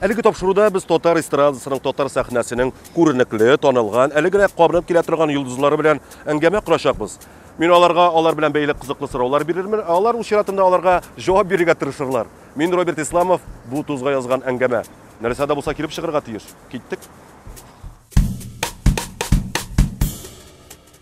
Әлеге тапшыруда без татар эстрадасының, татар сәхнәсенең күренекле, танылган, әле генә кабынып килә торган йолдызлары белән әңгәмә корачакбыз. Мин аларга алар белән бәйле кызыклы сораулар бирермен, ә алар үз чиратында аларга җавап бирергә тырышырлар. Мин Роберт Исламов, бу тузга язган әңгәмә. Нәрсә дә булса килеп чыгарга тиеш. Киттек.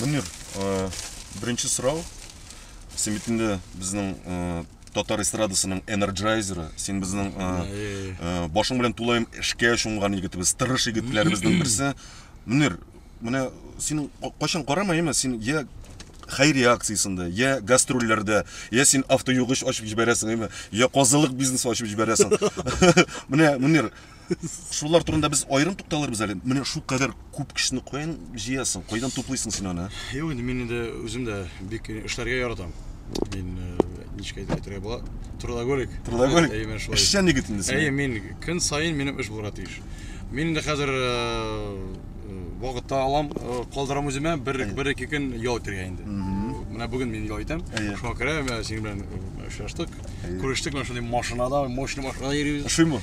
Мөнир, беренче сорау. Син бит инде безнең татар эстрадасының энерджайзеры. Син безнең башың белән тулаем эшкә чумган егетебез, тырыш егетләребезнең берсе. Мөнир, менә син кайчан карамаймы, син я хәйри акциясендә, я гастрольләрдә, я син автоюгыч ачып җибәрәсең, я казылык бизнесы ачып җибәрәсең. Менә, Мөнир, Шулар турында без аерым тукталырбыз әле. Менә шул кадәр күп кешене каян җыясың? Кайдан туплыйсың син аны? Юк, инде мин инде үзем дә бик эшләргә яратам. Мин э, ничек әйтергә була? Трудоголик. Трудоголик. Әйе, мин шулай. Эшчән егет инде син. Әйе, мин көн саен минем эш булырга тиеш. Мин инде хәзер э, э, вакытта алам, калдырам үземә, бер бер ике көн ял итәргә инде. Менә бүген мин ял итәм. Шуңа күрә синең белән очраштык. Күрештек, менә шундый машинада, мощный машинада йөрибез. Ошыймы?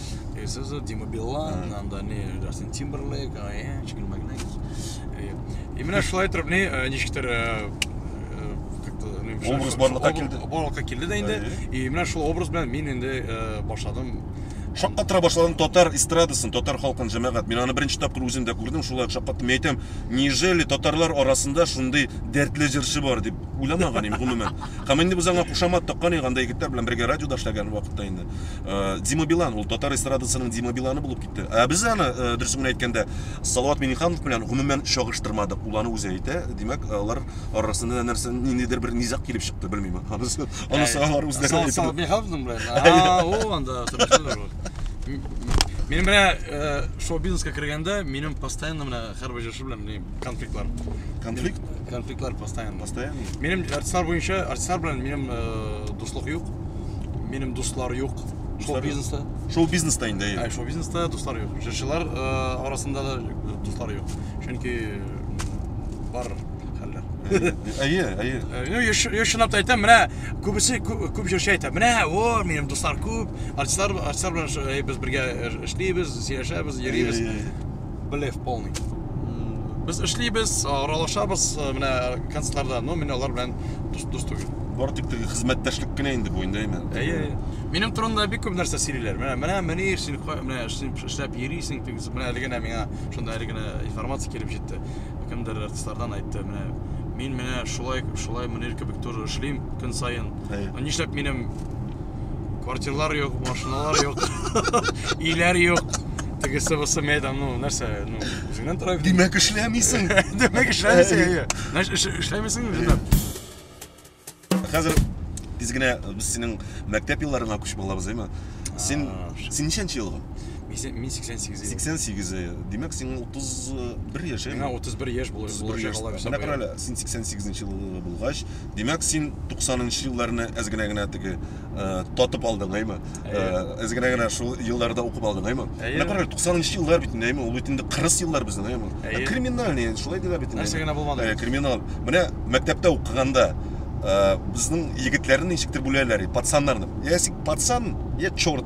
И все за Дима Билан, нам дали Джастин Тимберлейк, Аянчик, Магнек. Именно шулай торып не ничектер образ барлыкка килде барлыкка килде да инде и менә шул образ белән мин инде башладым шаккатыра башладым татар эстрадасын татар халкын җәмәгать мин аны беренче тапкыр үзем дә күрдем шулай шаккаттым мин әйтәм неужели татарлар арасында шундый дәртле җырчы бар дип уйламаган идем гомумән һәм инде без аңа кушамат таккан идек анда егетләр белән бергә радиода эшләгән вакытта инде Э, Дима Билан, ул татар эстрадасының Дима Биланы булып китте. Ә без аны, э, дөресен генә әйткәндә, Салават Миниханов белән гомумән чагыштырмадык. Ул аны үзе әйтә. Димәк, алар арасында нәрсә ниндидер бер низак килеп чыкты, белмим. Анысы анысы алар үзләре әйтә. Салават Миниханов белән. А, ул анда Минем менә э, шоу-бизнеска кергәндә, минем постоянно менә һәрбер белән міне конфликтлар конфликт конфликтлар постоянно постоянно менің артистлар бойынша артистлар белән менің ә, э, дуслық юк менің дуслар юк шоу бизнеста шоу бизнеста енді ә, шоу бизнеста дуслар юк жыршылар ә, э, арасында да дуслар юк чөнки бар хәлләр әйе әйе я чынлап та әйтәм менә күбесе күп җырчы әйтә менә о минем дуслар күп артистлар артистлар белән без бергә эшлибез сөйләшәбез йөрибез блеф полный без эшлибез аралашабыз э, менә концертларда но мин алар белән дус дус түгел бар тик теге хезмәттәшлек кенә инде бу инде әймен әйе минем турында бик күп нәрсә сөйлиләр менә менә мөнир син менә эшләп йөрисең тегез менә әле генә миңа шунда әле генә информация килеп җитте кемдер артистлардан айтты менә мин менә шулай шулай мөнир кебек тоже эшлим көн саен нишләп минем квартирлар юк машиналар юк өйләр юк тегесе бусы мен әйтәм ну нәрсә ну үзеңнән тора бит димәк эшләмисең димәк эшләмисең нәрсә эшләмисең хәзер тиз генә без синең мәктәп елларыңа күчеп алабыз әйме син син ничәнче елгы мин сексен сигез сексен сигез димәк сиңа отыз бер яшь миңа отыз бер яшь булачак менә кара әле син сексен сигезенче елгы булгач Димәк, син 90-нчы елларны әз генә генә теге татып алдың, әйме? Әз генә генә шул елларда укып алдың, әйме? Менә карагыз, 90-нчы еллар бит, әйме? Ул бит инде 40 еллар безнең, әйме? Ә криминальный, шулай диләр бит. Нәрсә генә булмады. Ә криминал. Менә мәктәптә укыганда безнең егетләрне ничектер бүләләр, пацаннарны. Ясик пацан, я чорт.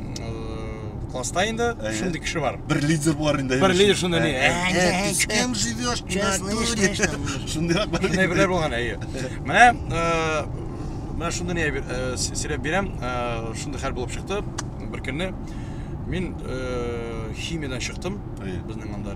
класста инде шундый кеше бар бер лидер бар инде бер лидер шуны не ты с кем живешь шундыйрак шундай бирләр булган әйе менә менә шундый не сөйләп бирәм шундый хәл булып чыкты бер көнне мин химиядан чыктым безнең анда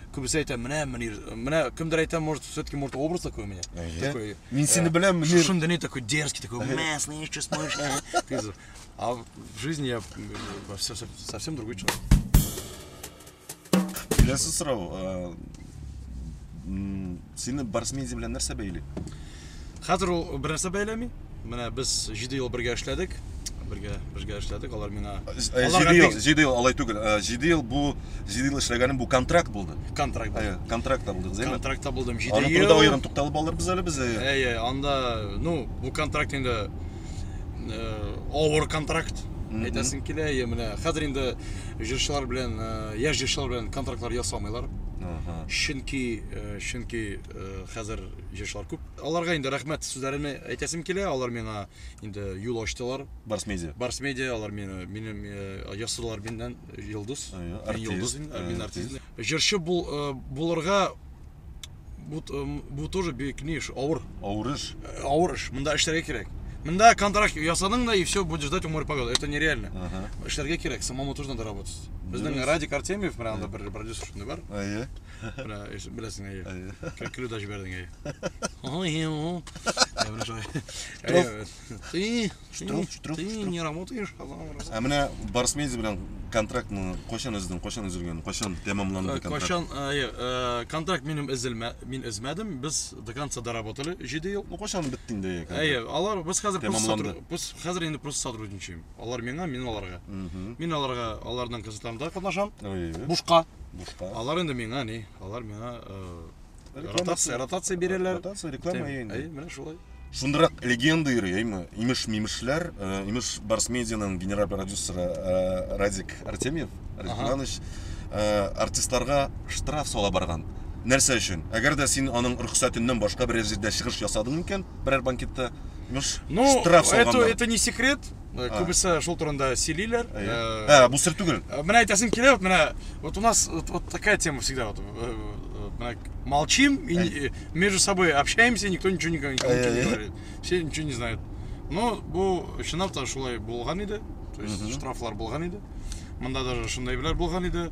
Күбесе әйтә, менә Мөнир, менә кемдер әйтә, может, все-таки может образ такой у меня. Такой. Мин сине э, беләм, Мөнир. Шушында не такой дерзкий, такой, мә, слышишь, что смотришь. А в жизни я э, все совсем другой человек. Келесі сұрау. Э, Сине Барсмедиа белән нәрсә бәйли? Хәзер ул бернәрсә бәйләми. Менә без 7 ел бергә эшләдек. Бергә бергә эшләдек. Алар миңа Аларга 7 ел, бик- 7 ел алай түгел. 7 ел бу 7 ел эшләгәнем бу контракт булды. контракт булды. Әйе, контрактта булдык, зәйме? Контрактта булдым 7 Аның турында ел. аерым тукталып алырбыз әле без. әйе. Әйе, анда, ну, бу контракт инде авыр контракт әйтәсең килә я менә хәзер инде җырчылар белән яшь җырчылар белән контрактлар ясамыйлар чөнки чөнки хәзер җырчылар күп аларга инде рәхмәт сүзләремне әйтәсем килә алар миңа инде юл ачтылар барс медиа барс медиа алар мине минем ясадылар миннән йолдыз мин йолдыз мин артист җырчы булырга Бу, бу тоже бик ни эш, авыр. Авыр эш. Э, авыр эш. Монда эшләргә кирәк. Монда контракт ясадың да и все, будешь ждать умер погоды. Это нереально. Ага. Эшләргә кирәк, самому тоже надо работать. Безнең Радик Артемьев, менә анда бер продюсер шундый бар. Әйе. Менә беләсең, әйе. Әйе. Көлү дә җибәрдең, әйе. Ой, ой. Әйе, менә шулай. Ты Ты, Штраф, штраф, ты штраф. не работаешь, казан работаешь. Ә менә Барс Медиа белән контрактны кайчан өздең, кайчан өзелгән, кайчан тәмамланды Э, контракт? Кайчан э, е, э, контракт минем эзелмә, мин эзмәдем. Без до конца доработали 7 ел. Ну кайчан бетте инде Әйе, контракт? алар без хәзер просто Тәмамланды. сотруд- без хәзер инде просто сотрудничаем. Алар миңа, мин аларга. Мгм. Мин аларга аларның концертларында катнашам. Ой, Бушка. бушка. Алар инде миңа ни, алар миңа э, Ротация, ротация бирәләр. Ротация, реклама әйе. Әйе, менә шулай. Шундырак легенда йөри, әйме? Имеш мимешләр, э, имеш Барс Медианың генераль продюсеры э, Радик Артемьев, Радик Иванович, э, артистларга штраф сала барган. Нәрсә өчен? Әгәр дә син аның рөхсәтеннән башка берәр җирдә чыгыш ясадың икән, берәр банкетта, имеш ну, штраф салганнар. Ну, это, это не секрет, Э, күбесе шул турында сөйлиләр ә, э, ә бу сер түгел э, менә әйтәсем килә вот менә вот у нас вот, вот такая тема всегда вот менә молчим и между собой общаемся никто ничего не говорит все ничего не знают но бу чынлап та шулай булган иде то есть штрафлар булган иде мында даже шундыйлар булган иде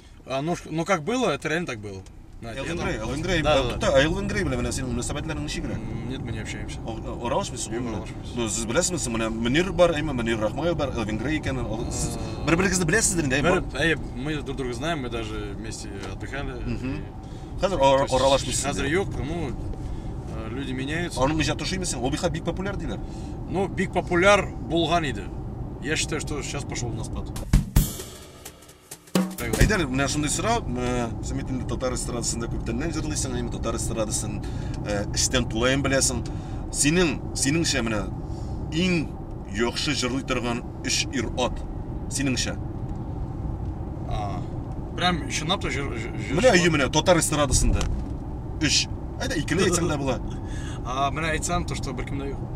А, ну, ну как было, это реально так было. Элвин Грей, Элвин Грей, да, да, да. Элвин Грей белән менә синең мөнәсәбәтләрең ничегрәк? Нет, мы не общаемся. Оралышмы сез? Юк, оралышмыз. Ну, сез беләсезме, сез менә Мөнир бар, әйме Мөнир Рахмаев бар, Элвин Грей икән. Сез бер-берегезне беләсездер инде, әйме? Әйе, мы друг друга знаем, мы даже вместе отдыхали. Хәзер оралышмыз. Хәзер юк, ну, э, люди меняются. Аның иҗаты шуймы син? Ул бихә бик популяр диләр. Ну, бик популяр булган иде. Я считаю, что сейчас пошел на спад. Әйдәр, менә шундый сорау, син бит инде татар эстрадасында күптәннән җырлыйсың, әйме татар эстрадасын эчтән тулаем беләсең. Синең, синеңчә менә иң яхшы җырлый торган өч ир-ат синеңчә? Прям чынлап та җыр Менә әйе менә татар эстрадасында. Өч. Әйдә икене әйтсәң дә була. А, менә әйтсәм, то что беркемдә юк.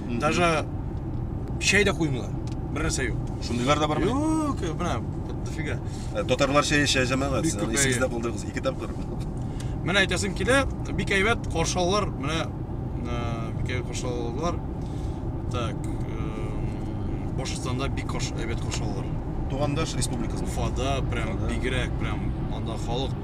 Даже чәй дә куймыйлар. Бер нәрсә юк. Шундыйлар да бармы? Юк, менә дофига. Э, татарлар чәй эчә җәмәгать. Бик күп исегездә калдырыгыз. Ике тапкыр. Менә әйтәсем килә, бик әйбәт каршы алалар. Менә э, бик әйбәт каршы алалар. Так, э, Башкортстанда бик каршы әйбәт каршы алалар. Тугандаш республикасы. Уфада прям бигрәк прям анда халык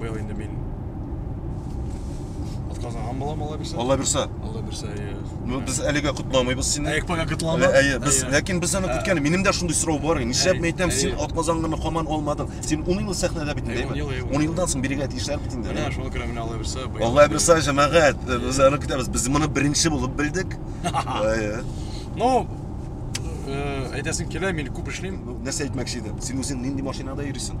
Быел инде мин отказлаган булам Алла бирсә. Алла бирсә. Алла бирсә, әйе. Ну, без әлегә котламыйбыз сине. Әйе, пока котлама. Әйе, без, ләкин без аны көткән. Минем дә шундый сорау бар. Нишләп мин әйтәм, син отказаңны хаман алмадың. Син 10 ел сәхнәдә бит инде, әйе. 10 елдан соң бирегә тиешләр бит инде. Менә шуңа күрә менә Алла бирсә. Алла бирсә, җәмәгать, без аны көтәбез. Без моны беренче булып белдек. Әйе. Ну, әйтәсең килә, мин күп эшлим. Нәрсә әйтмәкче идем? Син үзең нинди машинада йөрисең?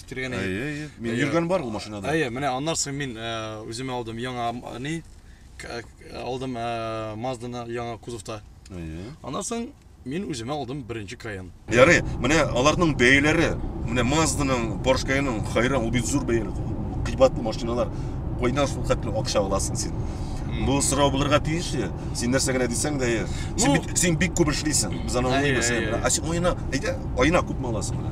китергән иде. Әйе, әйе. Мин йөргән бар ул машинада. Әйе, менә аннан соң мин э, үземә алдым яңа э, ни к- э, алдым э, Мазданы яңа кузовта. Әйе. Аннан соң мин үземә алдым беренче Каен. Ярый, менә аларның бәяләре, менә Мазданың, Porsche Cayenne-ның хайран, ул бит зур бәяләр, кыйбатлы машиналар. Кайдан шул хәтле акча аласың син? Бу сорау булырга тиешле. Син нәрсә генә дисәң дә, әйе. Син Ну- бит син бик күп эшлисең. Без аны Әйе, аңлыйбыз. әйе, әйе. Ә син аена, әйдә, аена күпме аласың? менә?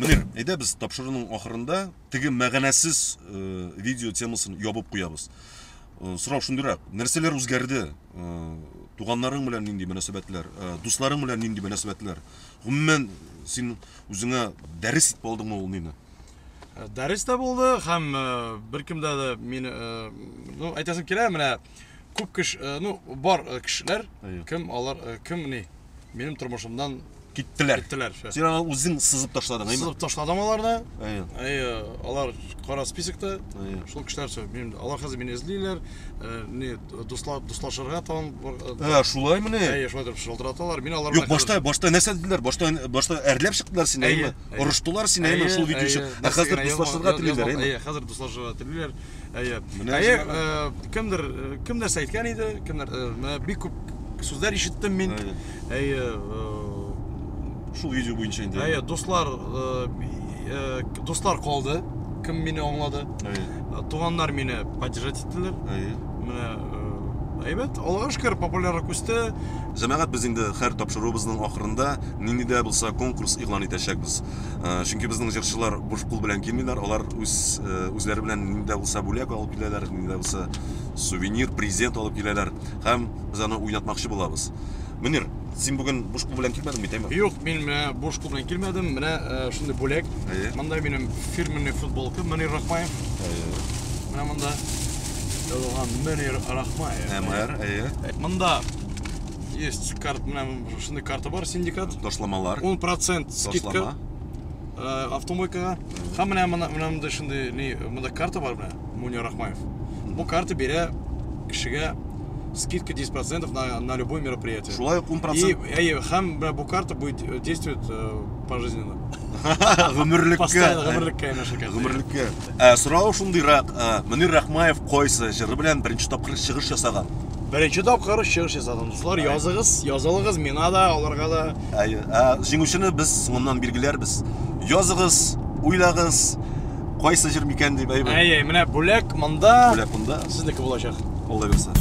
Мөнир, әйдә без тапшыруның ахырында теге мәгънәсез э, видео темасын ябып куябыз. Э, сорау шундыйрак, нәрсәләр үзгәрде? Э, туганнарың белән нинди мөнәсәбәтләр, э, дусларың белән нинди мөнәсәбәтләр? Гомумән, син үзеңә дәрес итеп алдыңмы ул мине? Дәрес тә булды һәм беркемдә дә мин, ну, әйтәсем килә, менә Күп кеш, э, ну, бар э, кешеләр, кем алар, э, кем ни, минем тормышымдан киттеләр. Киттеләр. Син аны үзең сызып ташладың, әйме? Сызып ташладым аларны. Әйе. Әйе, алар кара списокта. Әйе. Шул кешеләр сөй, мин, алар хәзер мине эзлиләр, э, не, дусла, дуслашырга тагын. Ә, э, шулай мене. Әйе, шулай дип шылтыраталар. Мин алар Юк, башта, башта нәрсә диделәр? Башта, башта әрләп чыктылар сине, әйме? Орыштылар сине, әйме, шул видео өчен. Ә хәзер дуслашырга телиләр, әйме? Әйе, хәзер дуслашырга телиләр. Әйе. Әйе, кемдер кем нәрсә әйткән иде, кемдер менә бик күп сүзләр ишеттем мин. Әйе. Шул видео буенча инде. Әйе, дуслар дуслар калды. Кем мине аңлады? Әйе. Туганнар мине поддержать иттеләр. Әйе. Менә Әйбәт, Аллага шөкер, популярлык үсте. Җәмәгать без инде һәр тапшыруыбызның ахырында нинди дә булса конкурс игълан итәчәкбез. Чөнки безнең җырчылар буш кул белән килмиләр, алар үз үзләре белән нинди дә булса бүләк алып киләләр, нинди дә булса сувенир, презент алып киләләр һәм без аны уйнатмакчы булабыз. Мөнир, син бүген буш кул белән килмәдең бит, әйме? Юк, мин менә буш кул белән килмәдем. Менә э, шундый бүләк. Әйе. Монда минем фирменный футболка Мөнир Рахмаев. Әйе. Менә монда язылган Мөнир Рахмаев. МР, әйе. Э, монда есть карт, менә шундый карта бар, синдикат. Ташламалар. 10% скидка. Ташлама. э, автомойкага. Һәм менә мына менә монда шундый ни монда карта бар менә Муня Рахмаев. Бу карта бирә кешегә скидка 10% на, на любое мероприятие. Шулай ук 10% И, әйе, һәм менә бу карта будет э, действовать э, пожизненно. гомерлеккә. Постоянно гомерлеккә янәшә карта. Гомерлеккә. Ә, сорау шундыйрак, ә, Мөнир Рахмаев кайсы җыры белән беренче тапкыр чыгыш ясаган? Беренче тапкыр чыгыш ясадым. Дуслар, языгыз, язылыгыз миңа да, аларга да. Ә, ә җиңүчене без соңыннан билгеләрбез. Языгыз, уйлагыз, кайсы җыр микән дип әйбер. Әй, әй, менә бүләк монда. Бүләк монда. Сезнеке булачак. Алла бирсә.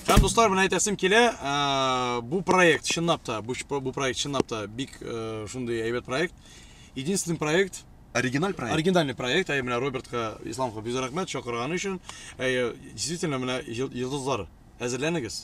Һәм дуслар, менә әйтәсем килә, ә, бу проект чынлап та, бу, бу проект чынлап та бик ә, шундый әйбәт проект. Единственный проект, Оригиналь проект. Оригинальный проект, әй менә Робертка, Исламга бик рәхмәт чакырганы өчен. Әй, действительно менә йолдызлар әзерләнегез.